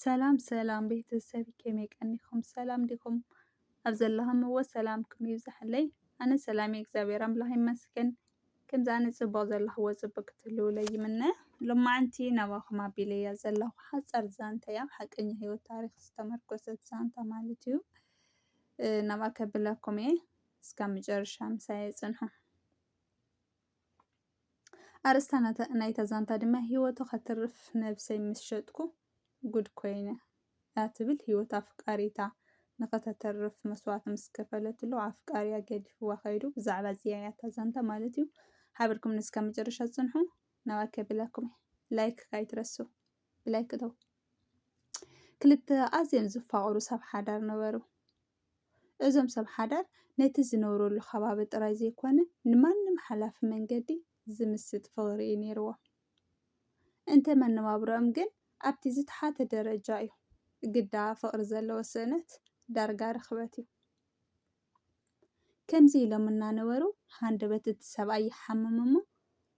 ሰላም ሰላም ቤተሰብ ከመይ ቀኒኹም ሰላም ዲኹም? ኣብ ዘለኹምዎ ሰላምኩም ይብዛሕለይ። ኣነ ሰላም እየ እግዚኣብሔር ኣምላኽ ይመስገን። ከምዚ ኣነ ጽቡቕ ዘለኹዎ ጽቡቕ ክትህልውለይ ይምነ። ሎማዓንቲ ናባኹም ኣቢለ እያ ዘለኹ ሓጻር ዛንታ እያ ኣብ ሓቀኛ ህይወት ታሪኽ ዝተመርኮሰት ዛንታ ማለት እዩ። ናብኣ ከብለኩም እየ እስካብ መጨረሻ ምሳይ ጽንሑ። ኣርእስታ ናይታ ዛንታ ድማ ህይወቱ ከትርፍ ነብሰይ ምስ ሸጥኩ ጉድ ኮይነ እያ ትብል። ህይወት ኣፍቃሪታ ንኸተተርፍ መስዋእቲ ምስ ከፈለትሉ ኣፍቃሪያ ገዲፍዋ ከይዱ። ብዛዕባ እዚኣ እያ እታ ዛንታ ማለት እዩ። ሓበርኩም ንስካ መጨረሻ ጽንሑ ናባይ ከብላኩም ላይክ ካይትረሱ ብላይክ ተው ክልተ ኣዝዮም ዝፋቕሩ ሰብ ሓዳር ነበሩ። እዞም ሰብ ሓዳር ነቲ ዝነብረሉ ከባቢ ጥራይ ዘይኮነ ንማንም ሓላፊ መንገዲ ዝምስጥ ፍቕሪ እዩ ነይርዎም። እንተ መነባብሮኦም ግን ኣብቲ ዝተሓተ ደረጃ እዩ። ግዳ ፍቕሪ ዘለዎ ስእነት ዳርጋ ርኽበት እዩ። ከምዚ ኢሎም እናነበሩ ሃንደበት እቲ ሰብኣይ ይሓምም እሞ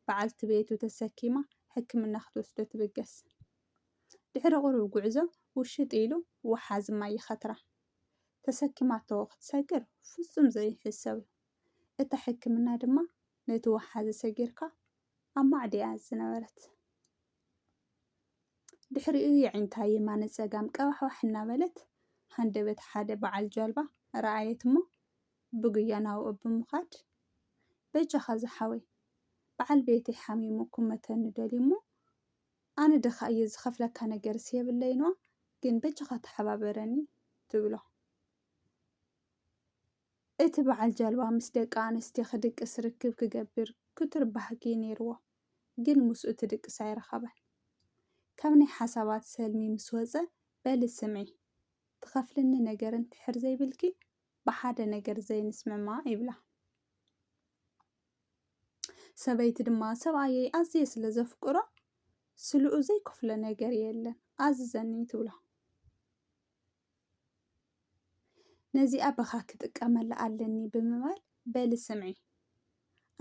በዓልቲ ቤቱ ተሰኪማ ሕክምና ክትወስዶ ትብገስ። ድሕሪ ቁሩብ ጉዕዞ ውሽጥ ኢሉ ወሓዚ ማይ ይኸትራ። ተሰኪማቶ ክትሰግር ፍጹም ዘይሕሰብ'ዩ። እታ ሕክምና ድማ ነቲ ወሓዚ ሰጊርካ ኣብ ማዕድ'ያ ዝነበረት። ድሕሪኡ የዒንታ የማነ ጸጋም ቀባሕባሕ እናበለት ሃንደበት ሓደ በዓል ጃልባ ረኣየት'ሞ ብጉያ ናብኡ ብምኻድ በጃኻ ዝሓወይ በዓል ቤተይ ሓሚሙ ክመተኒ ደልዩ'ሞ ኣነ ድኻ እየ ዝኸፍለካ ነገርስ የብለይን እዋ ግን በጃኻ ተሓባበረኒ ትብሎ። እቲ በዓል ጃልባ ምስ ደቂ ኣንስትዮ ክድቅስ ርክብ ክገብር ክቱር ባህጊ ነይርዎ፣ ግን ምስኡ ትድቅስ ኣይረኸበን። ካብ ናይ ሓሳባት ሰልሚ ምስ ወጸ በሊ ስምዒ፣ ትኸፍልኒ ነገር እንድሕር ዘይብልኪ ብሓደ ነገር ዘይንስምማዕ ይብላ። ሰበይቲ ድማ ሰብኣየይ ኣዝየ ስለ ዘፍቅሮ ስልኡ ዘይከፍሎ ነገር የለን ኣዝዘኒ ትብሎ። ነዚኣ በኻ ክጥቀመላ ኣለኒ ብምባል በሊ ስምዒ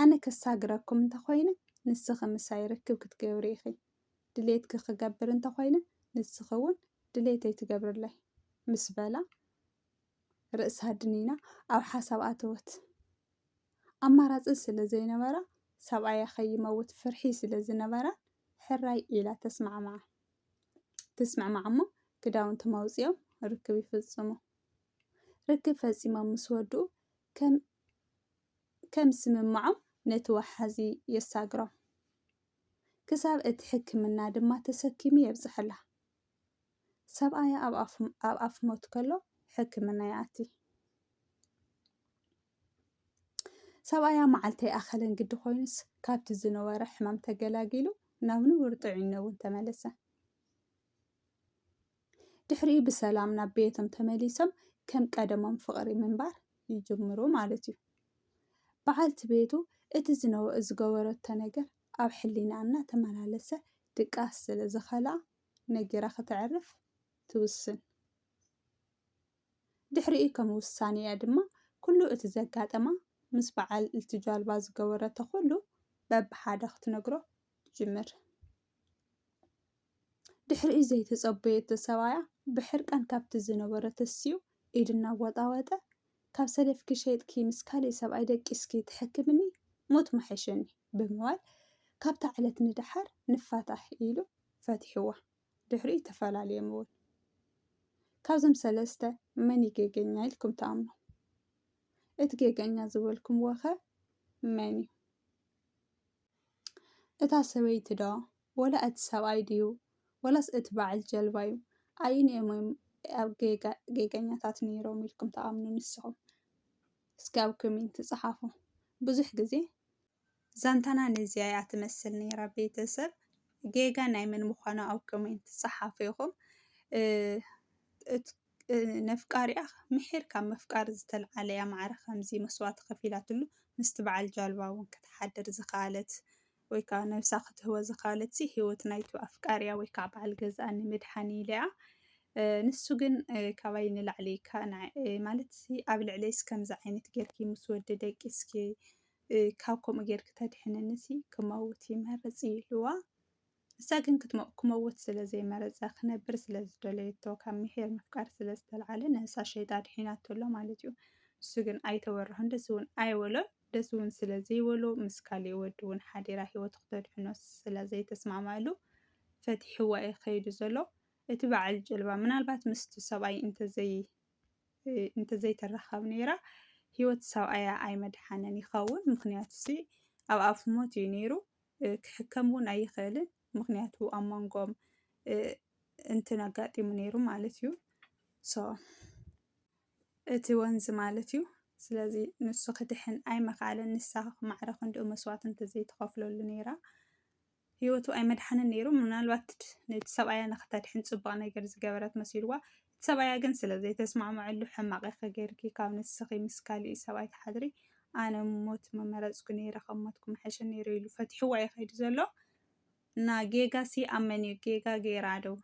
ኣነ ከሳግረኩም እንተኾይነ ንስኺ ምሳይ ርክብ ክትገብሪ ኢኺ ድሌትኪ ክገብር እንተኾይነ ንስኺ እውን ድሌተይ ትገብርለይ ምስ በላ ርእሳ ድኒና ኣብ ሓሳብ ኣተወት ኣማራጺ ስለ ዘይነበራ፣ ሰብኣያ ከይመውት ፍርሒ ስለ ዝነበራ፣ ሕራይ ኢላ ተስማዕምዓ። ትስምዕምዓ'ሞ ክዳውንቶም ኣውጺኦም ርክብ ይፍጽሙ። ርክብ ፈጺሞም ምስ ወድኡ ከም ከም ስምምዖም ነቲ ወሓዚ የሳግሮም። ክሳብ እቲ ሕክምና ድማ ተሰኪሙ የብጽሐላ። ሰብኣያ ኣብ ኣፍ ሞት ከሎ ሕክምና ይኣቲ። ሰብኣያ መዓልቲ ኣይኣኸለን ግዲ ኮይኑስ ካብቲ ዝነበሮ ሕማም ተገላጊሉ ናብ ንቡር ጥዕኖ እውን ተመለሰ። ድሕሪኡ ብሰላም ናብ ቤቶም ተመሊሶም ከም ቀደሞም ፍቕሪ ምንባር ይጅምሩ ማለት እዩ። በዓልቲ ቤቱ እቲ ዝገበረቶ ነገር ኣብ ሕሊናኣ እናተመላለሰ ድቃስ ስለ ዝኸልኣ ነጊራ ከተዕርፍ ትውስን። ድሕሪኡ ከም ውሳኔኣ ድማ ኩሉ እቲ ዘጋጠማ ምስ በዓል እቲ ጃልባ ዝገበረቶ ኩሉ በብሓደ ክትነግሮ ትጅምር። ድሕሪኡ ዘይተጸበየቶ ሰብኣያ ብሕርቃን ካብቲ ዝነበሮ ተሲኡ ኢዱ እናወጣወጠ፣ ካብ ሰለፍኪ ሸይጥኪ ምስ ካልእ ሰብኣይ ደቂስኪ ተሐክምኒ ሞት ምሓሸኒ ብምባል ካብታ ዕለት ንደሓር ንፋታሕ ኢሉ ፈቲሕዋ። ድሕሪኡ ተፈላልዮም'ውን። ካብዞም ሰለስተ መን'ዩ ጌገኛ ኢልኩም ትኣምኑ? እቲ ጌገኛ ዝበልኩምዎ'ኸ መን'ዩ? እታ ሰበይቲ ዶ ወላ እቲ ሰብኣይ ድዩ ወላስ እቲ በዓል ጀልባ ዩ ኣይንኦም እዮም ኣብ ጌጋ ጌገኛታት ነይሮም ኢልኩም ተኣምኑ ንስኹም እስኪ ኣብ ኮሜንት ጸሓፉ ብዙሕ ግዜ ዛንታና ነዚኣ እያ ትመስል ነይራ ቤተሰብ ጌጋ ናይ መን ምዃኑ ኣብ ኮሜንት ጸሓፉ ኢኹም ነፍቃሪኣ ምሒር ካብ ምፍቃር ዝተልዓለ'ያ ማዕረ ከምዚ መስዋእቲ ከፊላትሉ ምስቲ በዓል ጃልባ ውን ክትሓድር ዝኸኣለት ወይ ከኣ ነብሳ ክትህቦ ዝኸኣለትሲ ህይወት ናይቱ ኣፍቃሪኣ ወይ ከኣ በዓል ገዝኣ ንምድሓን ኢላ'ያ ንሱ ግን ካባይ ንላዕሊ ማለትሲ ኣብ ልዕለይስ ከምዚ ዓይነት ጌርኪ ምስ ወዲ ደቂስኪ ካብ ከምኡ ጌርኪ ተድሕንንሲ ክመውት ይመርጽ ኢልዋ። ንሳ ግን ክትሞቕ ክመውት ስለ ዘይመረጸ ክነብር ስለ ዝደለየቶ ካብ ምሒር ምፍቃር ስለ ዝተልዓለ ነብሳ ሸይጣ ኣድሒናቶ ኣሎ ማለት እዩ። ንሱ ግን ኣይተወርሖን ደስ እውን ኣይበሎን ደስ እውን ስለ ዘይበሎ ምስ ካሊእ ወዲ እውን ሓዲራ ህይወቱ ክተድሕኖ ስለ ዘይተስማዕማዕሉ ፈቲሕዋ እዩ ከይዱ ዘሎ። እቲ በዓል ጀልባ ምናልባት ምስቲ ሰብኣይ እንተዘይ እንተዘይተራኸብ ነይራ ህይወት ሰብኣያ ኣይመድሓነን ይኸውን ምክንያቱ ሲ ኣብ ኣፍ ሞት እዩ ነይሩ። ክሕከም እውን ኣይኽእልን ምክንያቱ ኣብ መንጎም እንትን ኣጋጢሙ ነይሩ ማለት እዩ ሶ እቲ ወንዝ ማለት እዩ ስለዚ ንሱ ክድሕን ኣይመኽኣለን ንሳ ማዕረ ክንድኡ መስዋእቲ እንተዘይተኸፍለሉ ነይራ ህይወቱ ኣይመድሓንን ነይሩ ምናልባት ነቲ ሰብኣያ ንክተድሕን ፅቡቅ ነገር ዝገበረት መሲልዋ ሰብኣያ ግን ስለ ዘይተስማዕመዐሉ ሕማቕ ኢኺ ጌርኪ ካብ ንስኺ ምስ ካሊእ ሰብኣይ ትሓድሪ ኣነ ሞት ምመረጽኩ ኔረ ካብ ሞትኩ ምሐሸ ኔሩ ኢሉ ፈቲሕዋ እዩ ከይዱ ዘሎ እና ጌጋ ሲ ኣብ መን እዩ ጌጋ ጌራ ዶ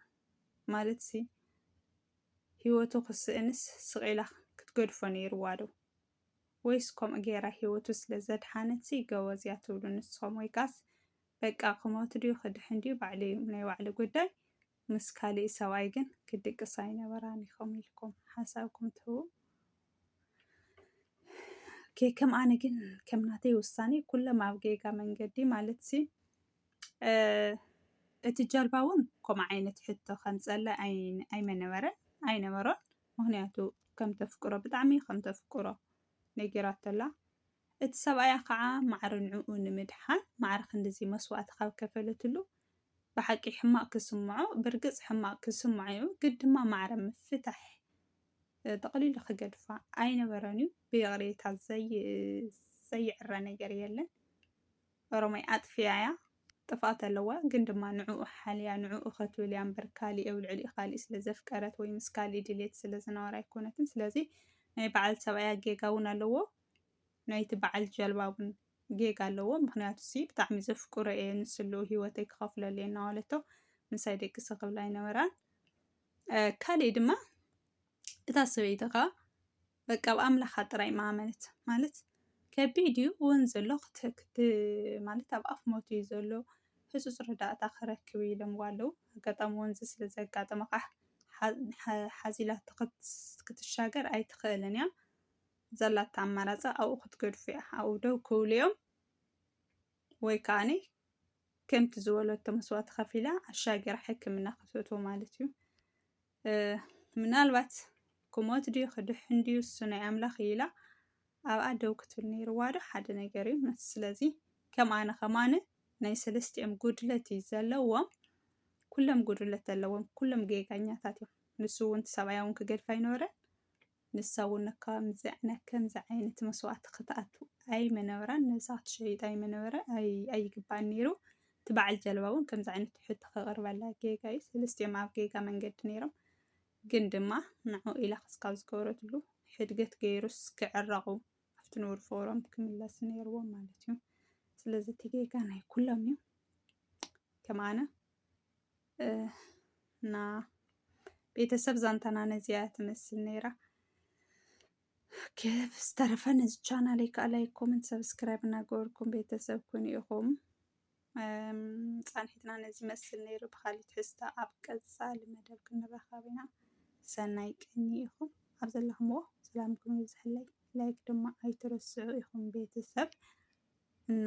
ማለት ሲ ህይወቱ ክስእንስ ስቒላ ክትገድፎ ኔርዋ ዶ ወይስ ከምኡ ጌራ ህይወቱ ስለ ዘድሓነት ሲ ገበዝ እያ ትብሉ ንስኹም ወይ ካስ በቃ ክሞት ድዩ ክድሕን ድዩ ባዕሉ እዩ ናይ ባዕሉ ጉዳይ ምስ ካሊእ ሰብኣይ ግን ክድቅሳ ኣይነበራን ኢኹም ኢልኩም ሓሳብኩም ትህቡ ኦኬ ከም ኣነ ግን ከም ናተይ ውሳኔ ኩሎም ኣብ ጌጋ መንገዲ ማለት ሲ እቲ ጀልባ እውን ከምኡ ዓይነት ሕቶ ከምፀለ ኣይመነበረን ኣይነበሮን ምክንያቱ ከም ተፍቅሮ ብጣዕሚ ከም ተፍቅሮ ነጊራቶላ እቲ ሰብኣያ ከዓ ማዕረ ንዕኡ ንምድሓን ማዕረ ክንድዚ መስዋእቲ ካብ ከፈለትሉ ብሓቂ ሕማቕ ክስምዖ ብርግጽ ሕማቕ ክስምዖ'ዩ ግን ድማ ማዕረ ምፍታሕ ጠቕሊሉ ክገድፋ ኣይነበረን'ዩ ብይቕሬታ ዘይዕረ ነገር የለን ኦሮማይ ኣጥፊኣ'ያ ጥፍኣት ኣለዋ ግን ድማ ንዕኡ ሓልያ ንዕኡ ከትብል እያ እምበር ካሊእ ኣብ ልዕሊኡ ካሊእ ስለ ዘፍቀረት ወይ ምስ ካሊእ ድሌት ስለ ዝነበራ ኣይኮነትን ስለዚ ናይ በዓል ሰብኣያ ጌጋ እውን ኣለዎ ናይቲ በዓል ጀልባ እውን ጌጋ ኣለዎ ምክንያቱ ሲ ብጣዕሚ ዘፍቅሮ እየ ንስሉ ሂወተይ ክኸፍለሉ እየ እናበለቶ ምሳይ ደቅሰ ክብላ ኣይነበራን ካልእ ድማ እታ ሰበይቲ ከዓ በቃ ኣብ ኣምላኻ ጥራይ ማመነት ማለት ከቢድ እዩ እውን ዘሎ ክትክት ማለት ኣብ ኣፍ ሞት እዩ ዘሎ ህፁፅ ረዳእታ ክረክብ ኢሎምዋ ኣለዉ ኣጋጣሚ ወንዚ ስለ ዘጋጠመ ከዓ ሓዚላ ክትሻገር ኣይትኽእልን እያ ዘላታ ኣማራጻ ኣብኡ ክትገድፎ እያ። ኣብኡ ደው ክብሉ እዮም ወይ ከዓኒ ከምቲ ዝበለቶ መስዋእቲ ከፊላ ኣሻገራ ሕክምና ክትእትዎ ማለት እዩ። ምናልባት ክሞት ድዩ ክድሕን ድዩ እሱ ናይ ኣምላኽ እዩ ኢላ ኣብኣ ደው ክትብል ነይርዋ ዶ ሓደ ነገር እዩ። መስ- ስለዚ ከም ኣነ ከም ኣነ ናይ ሰለስቲኦም ጉድለት እዩ ዘለዎም። ኩሎም ጉድለት ኣለዎም። ኩሎም ጌጋኛታት እዮም። ንሱ እውን ሰብኣያ እውን ክገድፍ ኣይነበረን። ንሳ ውን እካ ምስዚዓይነ ከምዚ ዓይነት መስዋእቲ ክትኣቱ ኣይምነበራን ነብሳ ክትሸይጥ ኣይምነበረ ኣይግባእን ነይሩ እቲ በዓል ጀልባ ውን ከምዚ ዓይነት ሕቶ ከቅርበላ ጌጋ እዩ ሰለስቲኦም ኣብ ጌጋ መንገዲ ነይሮም ግን ድማ ንዑ ኢላ ክስካብ ዝገበረትሉ ሕድገት ገይሩስ ክዕረቁ ኣብቲ ንቡር ፎሮም ክምለሱ ነይርዎም ማለት እዩ ስለዚ እቲ ጌጋ ናይ ኩሎም እዩ ከም ኣነ እና ቤተሰብ ዛንታና ነዚያ ትመስል ነይራ። ኬፍ ዝተረፈ ነዚ ቻናል ከዓ ላይክ፣ ኮመንት፣ ሰብስክራይብ እናገበርኩም ቤተሰብ ኩን ኢኹም ፃንሒትና ነዚ መስል ነይሩ። ብካሊእ ትሕዝቶ ኣብ ቀፃሊ መደብ ክንራኸብ ኢና። ሰናይ ቅኒ ኢኹም ኣብ ዘለኹምዎ ሰላምኩም ይብዝሐለይ። ላይክ ድማ ኣይትረስዑ ኢኹም ቤተሰብ እና